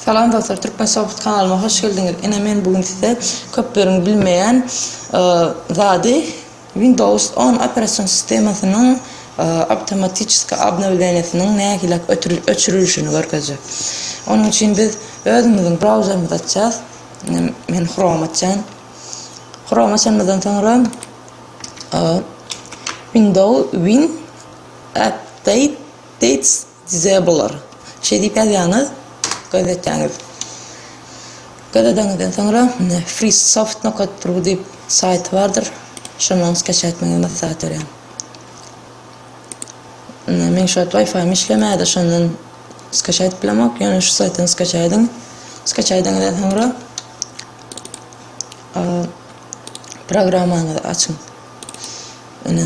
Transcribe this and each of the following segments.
Salam dostlar Türkmen Soft kanalyma hoş geldiňiz ine men bu gün size köpleriň bilmeýän zady Windows on operasion sistemasynyň awtomatическi obnowleniýesiniň nähilak öçürilişini görkezjek onuň üçin biz özümiziň brauzerimizi açýas ine men Chrome açýan Chrome açanymyzdan soňra Windows win update Size bular. Şeý diýip ýazýaňyz gazetäňiz. Gazetäňizden soňra Freesoft nokat ru diýip saýty bardyr. Şondan skaça etmegiňizi maslahat berýän. Ine meň şu wagt Wi-Fi-ym işlemäýdi, şondan skaça edip bilemok. Ýöne şu saýtdan skaça ediň. Skaça edeňizden soňra programmaňyzy açyň. Ine.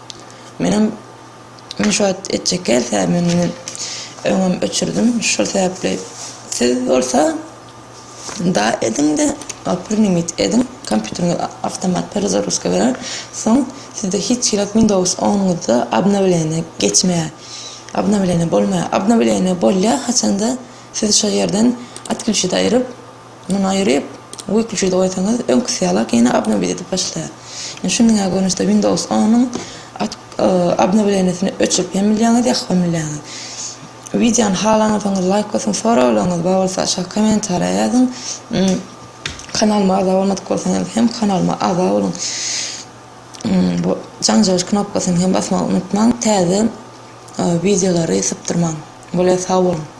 Menem men şu wagt etjek gelse men indi öňem öçürdim şol sebäpli siz bolsa da ediňde oprinimit ediň kompýuteriňiz awtomat perezaruska berer soň sizde hiç ýylak windows onyňyzda obnowleniýa geçmeýär obnowleniýa bolmaýar obnowleniýa bolýar haçanda siz şo ýerden otklýuçit aýryp Muny aýryp, wikliçüde goýsaňyz, öňküsi ýalak ýene obnowit edip başlaýar. Indi şuny diňe görnüşde Windows on-yň obnowleniýesini öçürip hem bilýäňiz, ýakyp hem bilýäňiz. Wideony halansoňyz laýk basyň, soraglaryňyz bar bolsa aşak kommentariýa ýazyň. Kanalyma agza bolmadyk bolsaňyz hem kanalyma agza boluň. Bu jaň jagyş knopkasyny hem basmagy unutmaň, täze wideolary sypdyrmaň. Bolýa sag boluň.